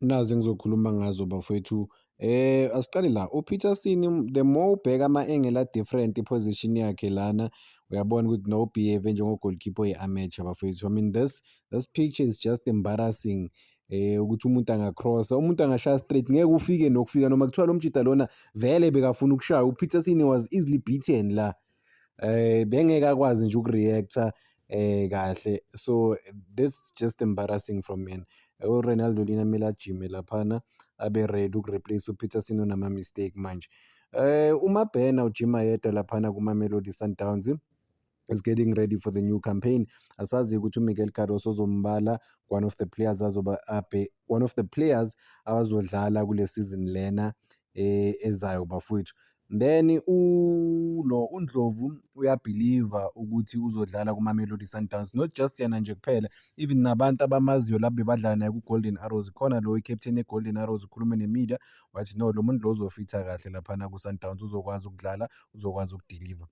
Nazi engizokhuluma ngazo bafowethu. Eh asiqale la uPeterson the more ubheka ama angle a different iposition yakhe lana uyabona ukuthi no behave njengo goalkeeper ye amateur bafowethu. I mean this this picture is just embarrassing. Eh ukuthi umuntu angacrossa, umuntu angashaya straight ngeke ufike nokufika noma kuthiwa lo mjita lona vele bekafuna ukushaya uPeterson was easily beaten la. eh bengeke akwazi nje ukureacta eh kahle so that's just embarrassing from me uRonaldo lina kumele ajime laphana abe ready ukureplace uPeterson onama mistake manje eh uma Bena ujima yedwa laphana kuMamelodi Sundowns is getting ready for the new campaign asazi ukuthi uMiguel Cardoso uzombala one of the players azoba abe one of the players abazodlala kule season lena eh, ezayo bafowethu. Then ulo uNdlovu uyabhiliva ukuthi uzodlala kuMamelodi Sundowns not just yena nje kuphela even nabantu abamaziyo laba bebadlala naye kuGolden Arrows khona lo i-captain yeGolden Arrows ukhulume ne-media wathi no lo muntu lo uzofitha kahle laphana kuSundowns uzokwazi ukudlala uzokwazi ukudiliva.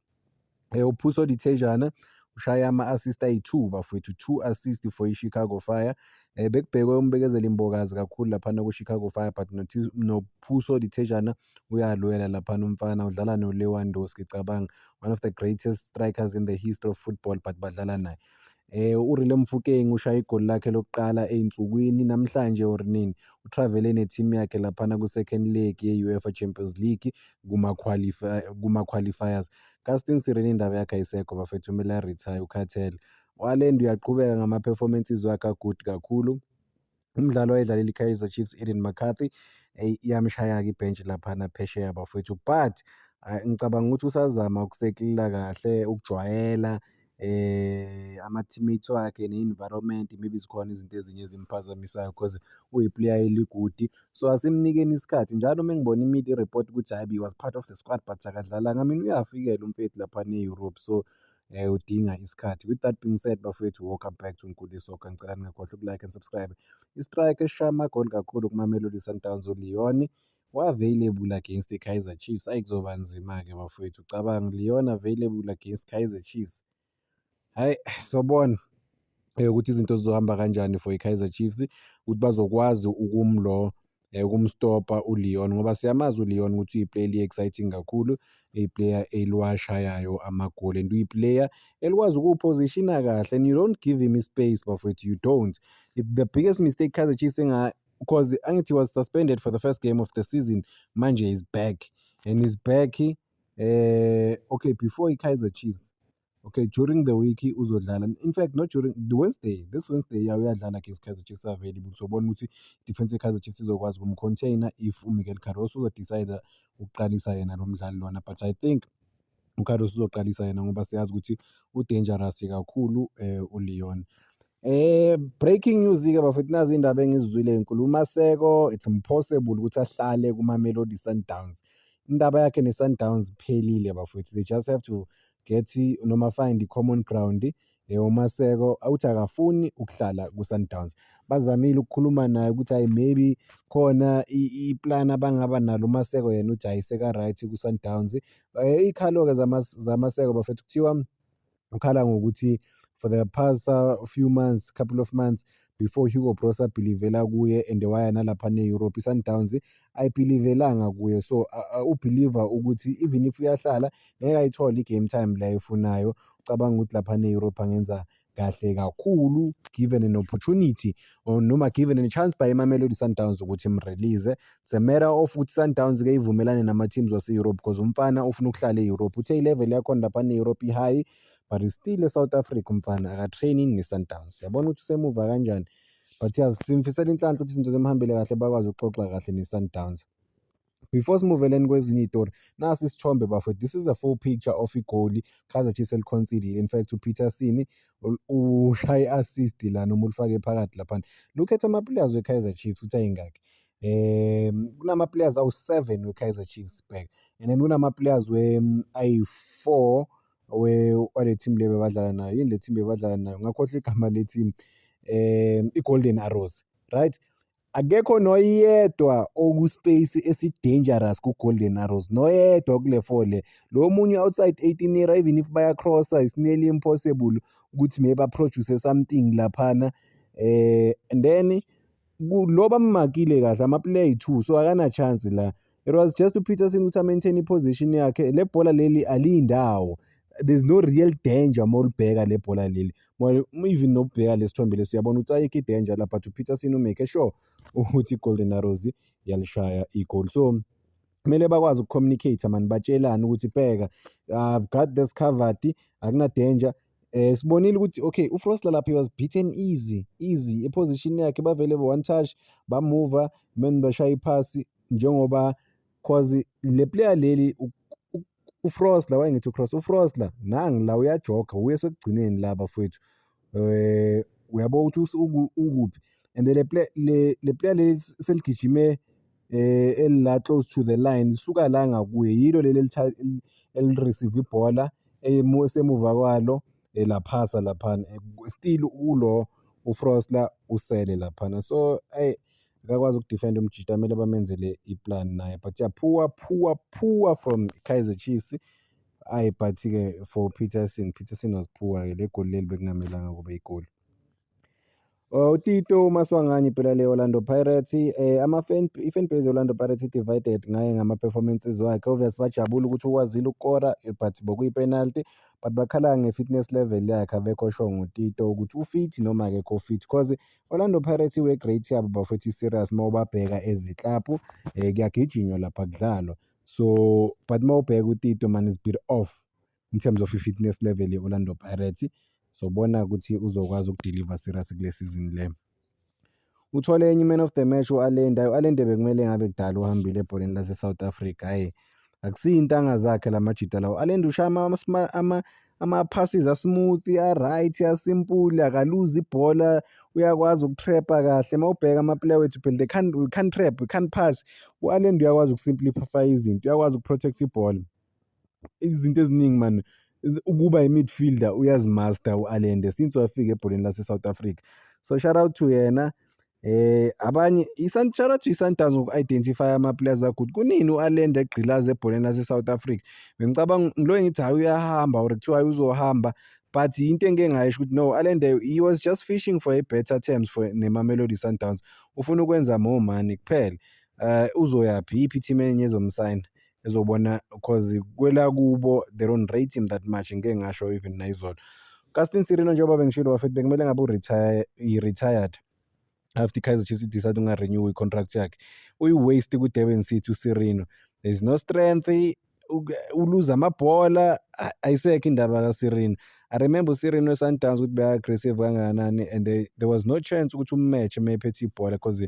Eh, uPhuso Dithejana ushaye ama-assist ayi-two bafowethu, two assist for i-Chicago Fire. Eh, bekubhekwe uMbekezeli Mbokazi kakhulu laphana ku-Chicago Fire but noPhuso Dithejana uyalwela laphana umfana, udlala noLewandowski cabanga, one of the greatest strikers in the history of football but badlala naye. Eh uRile Mofokeng ushaye igoli lakhe lokuqala ezinsukwini namhlanje or nini utravele neteam yakhe laphana ku second leg ye UEFA Champions League kuma qualify kuma qualifiers. Casting Sireni indaba yakhe ayisekho bafethu kumele retire ukhathele. Walend uyaqhubeka ngama performances wakhe a good kakhulu. Umdlali owayedlalela iKaizer Chiefs Eden McCarthy eyi iyamshaya-ke ibhentshi laphana phesheya bafowethu but ah, ngicabanga ukuthi usazama ukuseklila kahle ukujwayela eh ama-teammates wakhe ne-environment maybe zikhona izinto ezinye ezimphazamisayo because uyi-player eligudi so asimnikeni isikhathi njalo uma ngibona imidi i-report ukuthi hhayi he was part of the squad but akadlalanga mina uyafikela umfethu laphana e-europe so eh udinga isikhathi with that being said bafowethu welcome back to Nkuli Soccer ngicela ningakhohlwa ukulike and subscribe istrike eshaya amagoli kakhulu kumamelodi sundowns uleon wa-available against i-kaizer chiefs ayi kuzoba nzima-ke bafowethu ucabanga uleon available against kaizer chiefs hhayi sobona eh, ukuthi izinto zizohamba kanjani for i-Kaizer Chiefs ukuthi bazokwazi ukumlo eh, ukumstopa uLeon ngoba siyamazi uLeon ukuthi uyiplayer eli-exciting kakhulu, iplayer eliwashayayo amagoli and uyiplayer elikwazi ukuwuphozishina kahle and you don't give him ispace bafowethu, you don't. The biggest mistake Kaizer Chiefs enga because angithi he was suspended for the first game of the season manje is back and is back eh okay before i-Kaizer Chiefs okay during the week uzodlala in fact not during the wednesday this wednesday ya uyadlala against kaizer chiefs available sobona ukuthi defense yekaizer chiefs izokwazi ukumcontainer if umiguel carroso uzodecide ukuqalisa yena lo mdlali lona but i think ucarroso uzoqalisa yena ngoba siyazi ukuthi udangerous kakhulu um uleon Eh breaking news ke bafethu nazi indaba engizizwile enkulu uMaseko it's impossible ukuthi ahlale kuma Melody Sundowns indaba yakhe ne Sundowns iphelile bafethu they just have to get noma find i common ground eh uMaseko awuthi akafuni ukuhlala ku Sundowns bazamile ukukhuluma naye ukuthi hayi maybe khona i plan abangaba nalo uMaseko yena uthi ayiseka right ku Sundowns eh ikhalo ke zamaseko bafethu kuthiwa ukhala ngokuthi for the past uh, few months couple of months before Hugo Broos abhilivela kuye and waya nalapha ne-Europe i-Sundowns ayibhilivelanga kuye so uh, uh, ubhiliva ukuthi even if uyahlala ngeke ayithole i-game time la efunayo ucabanga ukuthi lapha ne-Europe angenza kahle kakhulu given an opportunity or noma given a chance by iMamelodi Sundowns ukuthi imrelease It's a matter of ukuthi Sundowns ke ivumelane nama teams wase Europe because umfana ufuna ukuhlala e-Europe. Uthe i-level yakhona lapha ne-Europe i-high but is still e-South Africa umfana akatraining ne-Sundowns. Yabona ukuthi usemuva kanjani. But yazi simfisela inhlanhla ukuthi izinto zimhambele kahle bakwazi ukuxoxa kahle ne-Sundowns. Before simuveleni kwezinye iy'tori, nasi isithombe bafo. This is a full picture of igoli Kaizer Chiefs eliconcedile. In fact uPeterson ushaye i-assist lana uma ulifake phakathi laphana. Look at ama-players we-Kaizer Chiefs ukuthi ayingaki. um kunama-players awu-seven we-kaizer chiefs back and then kunama-players um, ayi-four wale team le bebadlala nayo yini le team bebadlala nayo ngakhohlwa igama le team um i-golden arrows right akekho noyedwa okuspace esidangerous ku-golden arrows noyedwa kule four le lo munye outside 18 year even if bayacrossa it's nearly impossible ukuthi may baproduce something laphana um and then lo bammakile kahle amaplayer ayi-two so akanachance la it was just upeterson ukuthi amaintain iposition yakhe le bhola leli aliyindawo there's no real danger uma ulibheka le bhola leli even nokubheka le sithombe lesi uyabona ukuthi ayikho i-danger la but upeterson umake sure ukuthi i-golden arrows yalishaya igol so kumele bakwazi ukucommunicate mani batshelane ukuthi bheka i've got this covered akuna-danger Eh sibonile ukuthi okay uFrostler lapha he was beaten easy easy eposition yakhe bavele one touch bamuva men bashaya iphasi njengoba cause le player leli uFrostler wayengithi uCross uFrostler nangi la uyajoga uye sekugcineni la bafowethu eh uyabo ukuthi ukuphi and le player le player leli seligijime eh elila close to the line lisuka la ngakuye yilo leli elireceive ibhola esemuva kwalo elaphasa eh, laphana eh, still ulo uFrost la usele laphana so hey akakwazi ukudefend umjita kumele bamenzele iplan naye but ya poor poor poor from Kaizer Chiefs ayi but ke for Peterson Peterson was poor ke legoli leli bekungamelanga kube igoli Oh, uTito uMaswanganyi phela le Orlando Pirates eh ama fan i-fan base Orlando Pirates divided ngaye ngama performances wakhe obvious bajabula ukuthi ukwazile ukukora but bokuyi penalty but bakhala nge fitness level yakhe abekho sho ngoTito ukuthi ufit noma akekho fit because Orlando Pirates iwe great yabo bafethi serious mawubabheka eziklaphu eh kuyagijinywa lapha kudlalwa so but mawubheka uTito man is bit off in terms of i-fitness level ye-Orlando Pirates sobona ukuthi uzokwazi ukudeliver serious kule season le. Uthole enye i-man of the match u-Allende, u-Allende bekumele ngabe kudala uhambile ebholeni lase-South Africa hhayi akusiyo intanga zakhe la majita lawo. U-Allende ushaya ama ama-passes a-smooth, a-right, a-simple, akaluzi ibhola, uyakwazi uku-trap-a kahle. Uma ubheka ama-player wethu phela they can't, we can't trap, we can't pass. U-Allende uyakwazi uku-simplify izinto, uyakwazi uku-protect ibhola. izinto eziningi mani ukuba i-midfielder uyazimaster u-Allende since wafika ebholeni lase-South Africa so shout out to yena eh abanye shout out to i-Sundowns ngoku-identify ama-players akho ukuthi kunini u-Allende egqilaza ebholeni lase-South Africa bengicabanga ngilo engithi hhayi uyahamba or kuthiwa hhayi uzohamba but into engike ngayisho ukuthi no Allende he was just fishing for a better terms for ne-Mamelodi Sundowns ufuna ukwenza more money kuphela um uzoyaphi iyiphi i-team enye ezomsayina ezobona cause kwela kubo they don't rate him that much ngike ngasho even nayizolo Castin Sirino njengoba bengishilo bafethu bekumele ngabe uretire i-retired after Kaizer Chiefs idecide ungarenew i-contract yakhe uyi-waste kwi-Durban City uSirino there is no strength uluza amabhola ayisekho indaba kaSirino I remember uSirino eSundowns ukuthi beka-aggressive kangakanani and they, there was no chance ukuthi ummatch uma ephethe ibhola because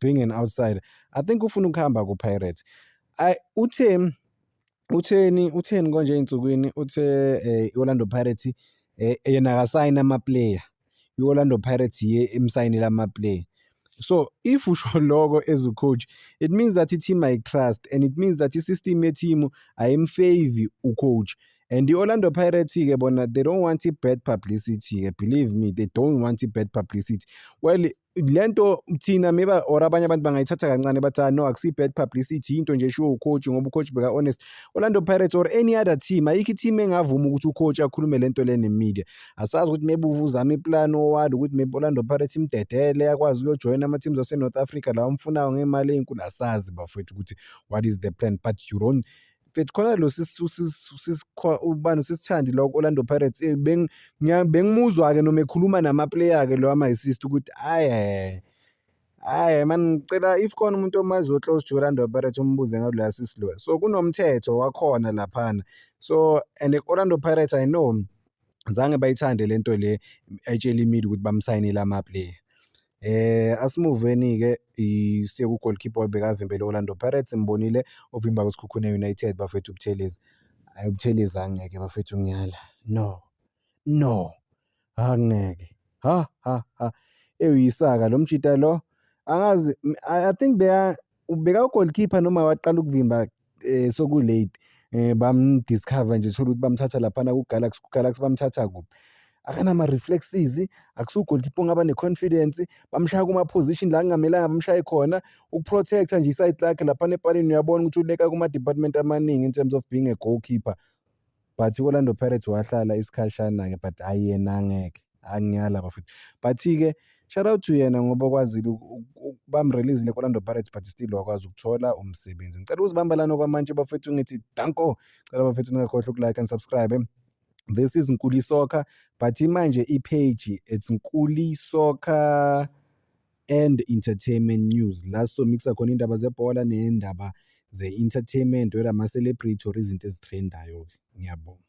being an outsider i think ufuna ukuhamba ku-pirate I, uthe utheni utheni konje ey'nsukwini uthe um i-orlando pirates um eh, yena akasayini amaplayer i-orlando pirates ye imsayinile amaplayer so if usho loko as ucoach it means that i-team ayitrust and it means that i-system yethimu ayimfavi ucoach and i-orlando pirates-ke bona they don't want i-bad publicity-ke believe me they don't want i-bad publicity well le nto thina maybe or abanye abantu bangayithatha kancane bathi ah, no akusi bad publicity yinto nje eshiwo ucoach ngoba ucoach beka honest Orlando Pirates or any other team ayikho i-team engavuma ukuthi ucoach akhulume le nto le nemedia asazi ukuthi maybe uvuzama iplan owali ukuthi maybe Orlando Pirates imdedele akwazi ukuyojoyina ama-teams ase-north africa lawa amfunayo ngemali eyinkulu asazi bafowethu ukuthi what is the plan but you don't But khona lo ubani usisithandi lo Orlando Pirates eh, bengimuzwa ke noma ekhuluma nama player ke lo ama assist ukuthi aye Hhayi mani ngicela if khona umuntu omaziyo o-close to Orlando Pirates umbuze ngaloya sisi loya. So kunomthetho wakhona laphana. So and Orlando Pirates I know zange bayithande le nto le etshela iMedia ukuthi bamsayinile ama-player. Eh asimuveni ke siye ku goalkeeper obekavimbele Orlando Pirates imbonile ovimba kuSikhukhune United bafethu Buthelezi. Hayi Buthelezi angeke bafethu ngiyala. No. No. Angeke. Ha ha ha. Eyisaka lo mjita lo angazi I think beya ubeka ugoalkeeper noma waqala ukuvimba um sokulate um bamdiscover nje thole ukuthi bamthatha laphana kugalaxy kugalaxy bamthatha kuphi akanama-reflexes akusugolikipa ongaba ne-confidence bamshaya kuma-position la kungamelanga bamshaye khona ukuprotector nje isayidi lakhe laphana epalini uyabona ukuthi uleka kuma-department amaningi in terms of being a goalkeeper but i-Orlando Pirates wahlala isikhashana-ke but hhayi yena angeke angiyala bafethu but-ke shout out to yena ngoba okwazile bamrelizile ku-Orlando Pirates but still wakwazi ukuthola umsebenzi ngicela ukuzibamba lana okwamanje bafethu ngithi danko cela bafethu ningakhohlwa ukulike and subscribe this is Nkuli Soccer but imanje i-page it's Nkuli Soccer and entertainment news la sizomixa khona indaba zebhola nendaba ze-entertainment whether ama-celebrity or izinto ezithrendayo-ke ngiyabonga